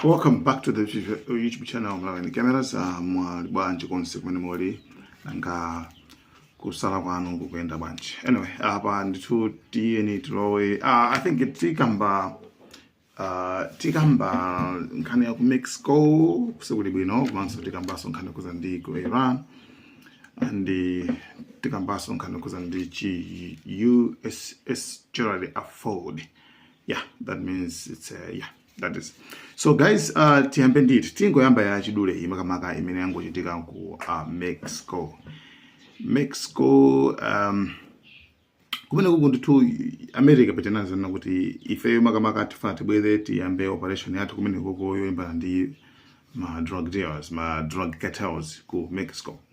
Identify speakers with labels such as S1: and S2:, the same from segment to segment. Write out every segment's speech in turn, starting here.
S1: welcome back to the youtube channel mlaweni cameras uh, muli bwanji konse kumene muli nanga kusala kwanu kukuyenda bwanji anyway apa ndithu tiyeni tilowe uh, i think tikamba uh, tikamba nkhani ya ku mexico sikuli bwino komanso tikambaso nkhani yokhudza ndi ku iran and tikambaso nkhani yokhudza ndi chi uss gerald r ford yeah that means it's uh, yeah that is so guys uh, tiyambe nditi tingoyamba ya chidule iyi makamaka imene yangochitika ku uh, mexico mexico um, kumeneko ndithu america inanena kuti ifeyo makamaka tifuna tibwere tiyambe operation yathu kumenekuko yolimbana ndi ma drug dealers ma drug cartels ku mexico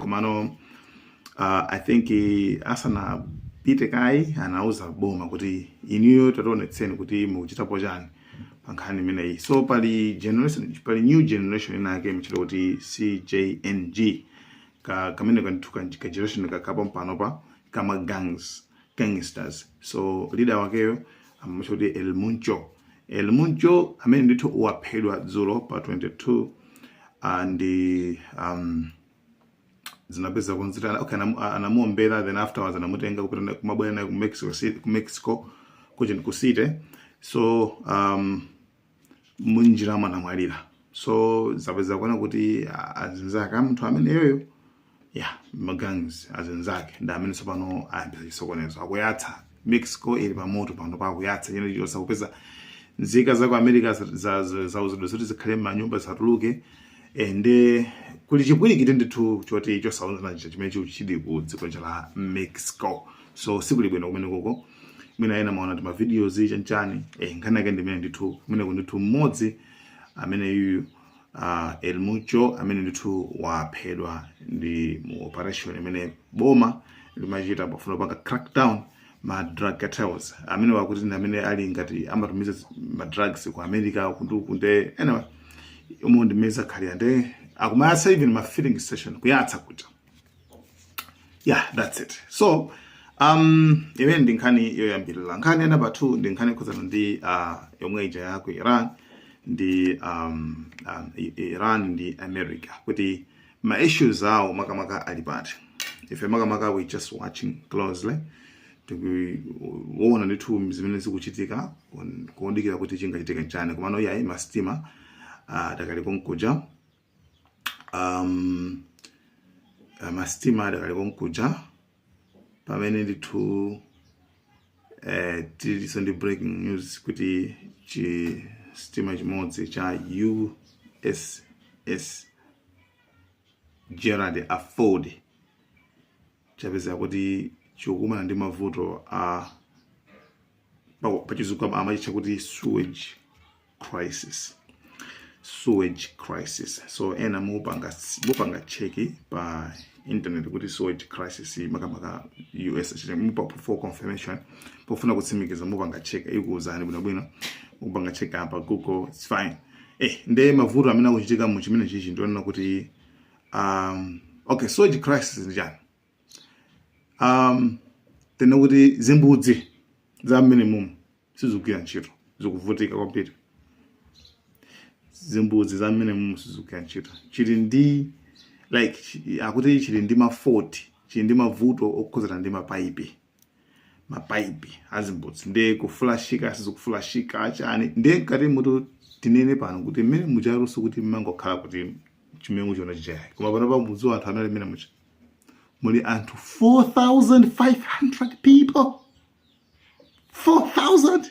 S1: komano i think asanapite kaye anauza boma kuti inuyo tationetsani kuti mukuchitapo chani. pa nkhani imeneyi so pali generation pali new generation ina yake imatchedwa kuti cjng ka kamene kanthuka ka generation kakapa mpanopa kama gangs gangsters so leader wakeyo amamutcha kuti el mencho el mencho amene ndithu waphedwa dzulo pa 22 uh, and um, zinapeza kunzitana okay anamu- a- anamuombera then afterwards anamutenga kupita naye- kumabwera naye ku mexico city ku mexico kuja ku city so um, munjiramo anamwalira so zapezeka kuona kuti a- azinzake a munthu ameneyoyo yeah magangs azinzake ndi amene tsopano ayambisa chisokonezo akuyatsa Mexico ili pa moto pano akuyatsa chinthu chilichonse kupeza nzika za ku America za- za- za- zauzidwa zoti zikhale m'manyumba zisatuluke ende kuli chipwirikiti ndithu choti chosaonana chija chimene chili chili ku dziko lija la Mexico so sikuli bwino kumenekuko mwina ena mumaona tima videos chanchani eh, nkhani yake ndimene ndithu kumene ndithu mmodzi ameneyuyu uh, El Mencho amene ndithu waphedwa ndi mu operation imene boma limachita pofuna kupanga crackdown ma drug cartels amene wakuti ndi amene ali ngati amatumiza ma drugs ku America kundu kunde anyway umo ndi mmene zakhalira nde akumayatsa even ma filling station kuyatsa kuja yeah that's it so um imene ndi nkhani yoyambirira nkhani ya namba 2 ndi nkhani yokhuzana ndi uh, yomwe ija ya ku iran ndi um, um, I- iran ndi america kuti ma issues awo makamaka ali pati ife makamaka we just watching closely tikuona ndithu zimene zikuchitika kuon- kuondikira kuti chingachitika nchani komano yayi masitima uh, adakali konkuja um, masitima adakali konkuja pamene ndithu eh, tilinso ndi breaking news kuti chi sitima chimodzi cha uss gerald r ford chapezeka kuti chikukumana ndi mavuto a pa- pachizungu ama- amachitcha kuti sewage crisis sewage crisis so ena mupanga mupanga cheki pa internet kuti sewage crisis makamaka us chete mupa for confirmation pofuna kutsimikiza mupanga cheki ikuwuzani bwinobwino mupanga cheki pa google its fine eh nde mavuto amene akuchitika mu chimenechichi ndi onena kuti um, okay sewage crisis ndi chani um, tinene kuti zimbudzi za mmenemumu sizikugwira ntchito zikuvutika kwambiri zimbudzi za mmenemumu sizikugwira ntchito chili ndi like akuti chili ndi ma fault chili ndi mavuto okhudzana ndi mapaipi mapaipi azimbudzi nde kufulashika sizikufulashika achani nde mkatimotu tinene pano kuti mmene muchaluso kuti mmangokhala kuti chimengo chona chichayake koma pano pamudziwa anthu anali mmenemuja muli anthu 4500 people 4000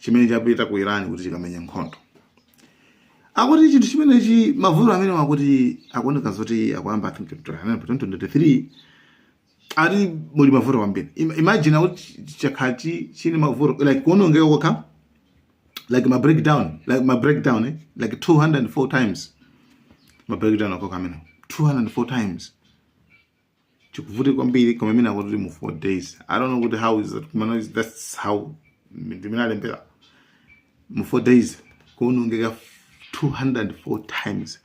S1: chimene chapita ku Iran kuti chikamenya nkhondo akuti chinthu chimenechi mavuto amene akuti akuoneka zoti akuyamba 2023 ali muli mavuto kwambiri imagine akuti chakhala chili ndi mavuto like kuonongeka kokha like ma breakdown like ma breakdown eh? like 204 times ma breakdown okhaokha amene 204 times chikuvutika kwambiri koma imene akuti mu 4 days i don't know kuti how is that komano is that's how ndi mmene alembera mu 4 days kuonongeka 204 times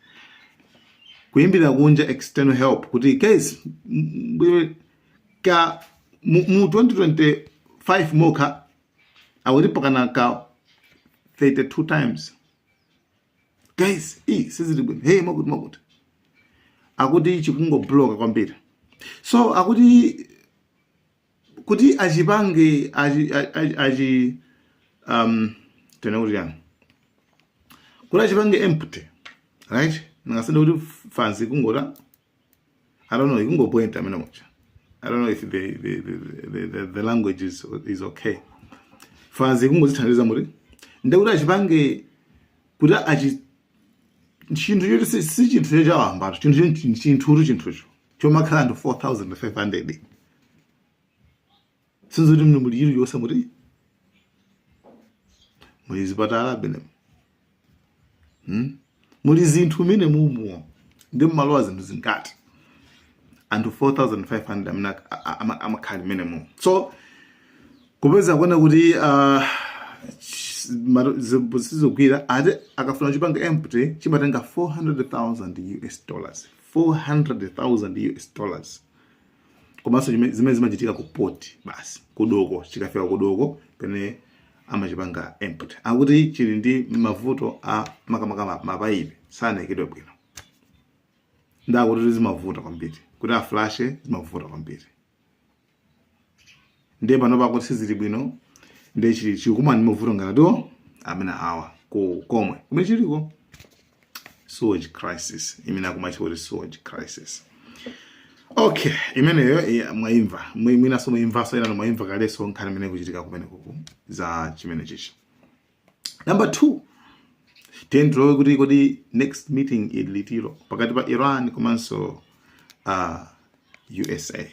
S1: kuyimbira kunja external help kuti guys m- m- ka mu mu 2025 mokha awiripo kana ka 32 times guys i sizili bwino hey mwakuti mwakuti akuti chikungobloka kwambiri so akuti kuti achipange achi, achi, achi um, tinene kuti chani kuti achipange empty right ndingasinde kuti fanzi kungota I don't know, ikungopoint amene mucha. I don't know if the the the, the, the language is is okay. Fans ikungozithandiza muti. Ndekuti achipange kuti achi chinthu choti si si chinthu chechawamba chinthu chinthu chinthucho chomakhala ndi 4500 sizoti muli muli chili chonse muti muli zipatala bene hmm? muli zinthu mene mumuwo ndi mmalowa zinthu zingati anthu 4500 amene amakhala mene mu so kupeza kuona kuti uh, sizogwira akuti akafuna chipanga empty chimatenga 400,000 US dollars 400,000 US dollars komanso zimene zimachitika ku port basi kudoko chikafika kudoko pene amachipanga empty akuti chili ndi mavuto a makamaka mapaipi sanaikidwe bwino ndakuti zimavuta kwambiri kuti aflashe zimavuta kwambiri ndiye panopa akuti sizili bwino ndiye chili chikumana ndi mavuto ngatiwo amene awa ku komwe kumene chiliko sewage crisis imene akumatcha kuti sewage crisis okay imeneyo iya, mwaimva Mwi- mwinaso mwaimvaso ina mwaimva kaleso nkhani imene ikuchitika kumeneku za chimene chichi number two tiye tilowe kuti kodi next meeting ili liti iro pakati pa iran komanso uh, usa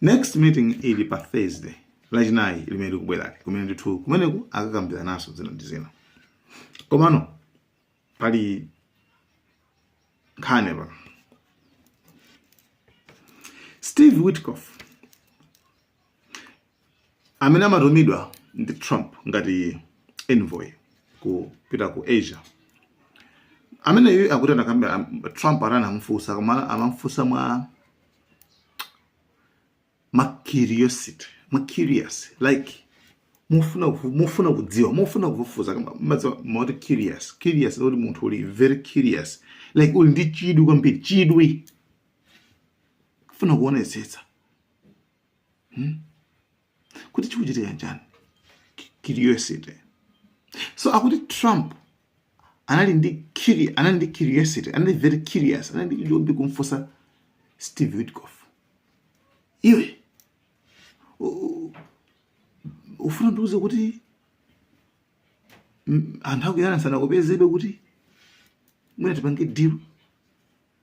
S1: next meeting ili pa thursday lachinayi limene likubwerali kumene ndithu kumeneku akakambirananso zina ndi zina komano pali nkhani ya steve witkoff Amene amatumidwa ndi Trump ngati envoy kupita ku Asia ameneyu akuti anakambira Trump ata anamufunsa koma amamufunsa mwa ma curiosity mwa curious like mofuna mofuna kudziwa mofuna kufufuza moti curious curious kuti munthu uli very curious like uli ndi chidwi kwambiri chidwi kufuna kuonetsetsa hmm? kuti chikuchitika chani curiosity so akuti trump anali ndi curi anali ndi curiosity anali very curious anali ndi chidwi choti kumfunsa steve witkoff iwe u- u- ufuna ndiuze kuti mm, anthu aku iran sanakupezebe kuti mwina tipange deal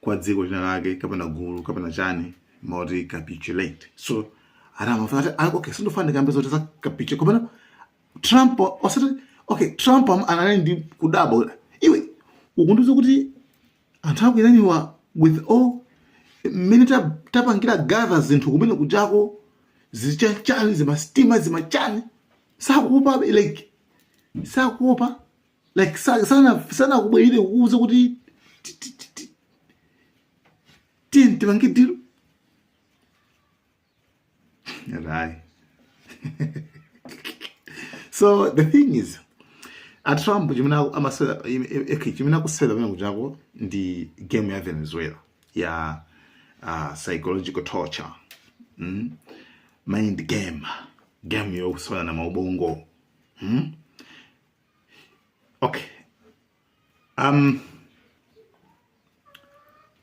S1: kwa dziko lina lake kapena gulu kapena chani moti capitulate so anamafuna ati ah, okay sindofana ndikambe zoti za capitulate kapena trump osati okay trump am- anali ndi kudabwa iwe ukundiuza kuti anthu aku Iran-wa with all mmene ta- tapangira gather zinthu kumene kujako zichanichani zimasitima zimachani sakuopa like sakuopa like sa- sana sana kubwerere kuuza kuti ti- ti- ti- ti- tiyeni tipange dilo right so the thing is a Trump chimene aku- amasewera im- im- eki, chimene akusewera kumene kujako ndi game ya venezuela ya uh, psychological torture mm? mind game game yokusewera na maubongo Okay. Um,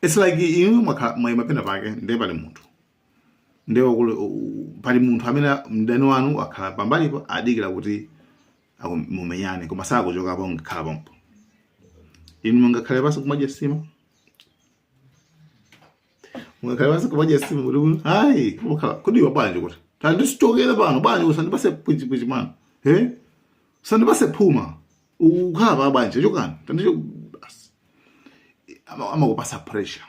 S1: it's like inu mwakha- mwayima pena pake ndiye pali munthu ndiye wakule- u- u- pali munthu amene mdani wanu akhala pambalipo adikira kuti aku- mumenyane koma sakuchokapo angokhala pompo inu mungakhale pansi kumadya nsima ungakhale pansi kumadya nsima kuti kuti hayi ukhala kuti iwe bwanji kuti tandichokere pano bwanji usandipase chipwirikiti mwana e usandipase phuma ukhala pa bwanji chokani tandicho basi Ama- amakupasa pressure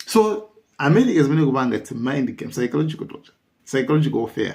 S1: so america zimene ikupanga its a mind game psychological torture psychological warfare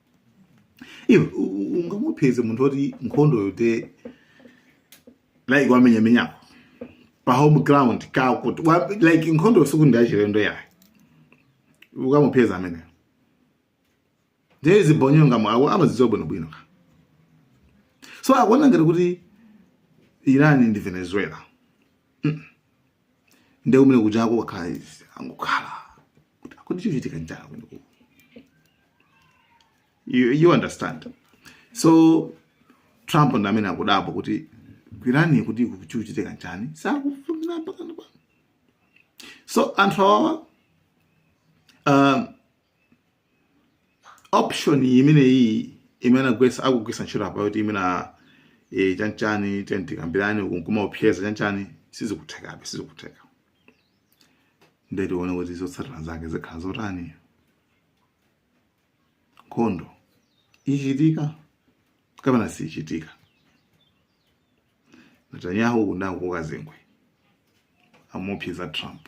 S1: iwe u- u- ungamupeze munthu woti nkhondo yote like wamenyamenyako pa home ground kawo kuti wa- like nkhondo sikuti ndi yachilendo yayo ukamupeza ameneyo ndiye zibonyonga mwawo amazidziwa bwinobwino ka so akuona ngati kuti iran ndi venezuela nde kumene kujako kwakhala izi angokhala kuti kukuchitika nchani kumene kuku you, you understand so trump ndi amene akudabwa kuti ku Iran kuti iku chikuchitika nchani sakufuna mpakana pano so anthu awawa um, option imeneyi imene agwesa akugwisa ntchito apa yoti imena e, chanichani tiyeni tikambirane uku nkumaopseza chanichani sizikuthekabe sizikutheka ndiye tione kuti zotsatira zake zikhala zotani nkhondo ichitika kapena siichitika netanyahu uku ndakukazengwe amuopseza trump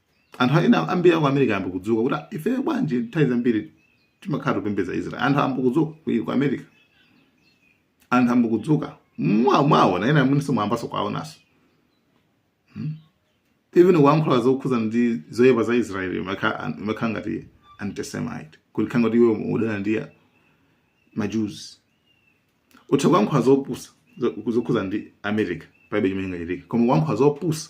S1: Anthu ena ambiri aku America ayamba kudzuka kuti ifeyo bwanji nthawi zambiri timakhala tikupembedza Israel. Anthu ayamba kudzuka ku, ku America. Anthu ayamba kudzuka. Mwa mwaona ena inunso mwayambanso kuwaonanso. Hmm? Even kuankhula zokhuza ndi zoyipa za Israel imakhala ngati antisemite. Kutanthauza kuti iwe umadana ndi ma Jews utha kuyankhula zopusa zokhuza ndi america palibe chimene chingachitike koma kuyankhula zopusa